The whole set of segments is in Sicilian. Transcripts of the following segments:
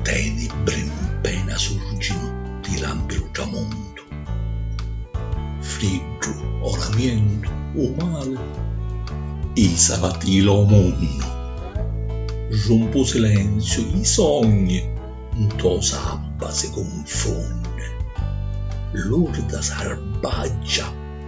Tenebri 'mpena surginu ti lampi lu tramontu Friddu o lamientu o mali i savatila o munnu Rumpu u silenziu i sogni nto sabba si cunfunni Lurda sarbaggia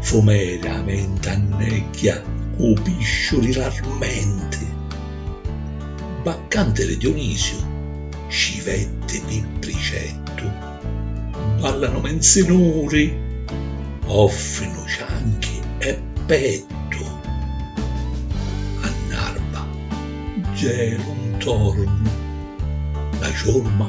Fumeri a venti annegghia cu u pisciu di l'armenti. Baccanti di Dionisiu scivetti pi pricettu. Ballanu minzinuri, offrinu cianchi e pettu. A n'arba gelu ntornu, la ciurma.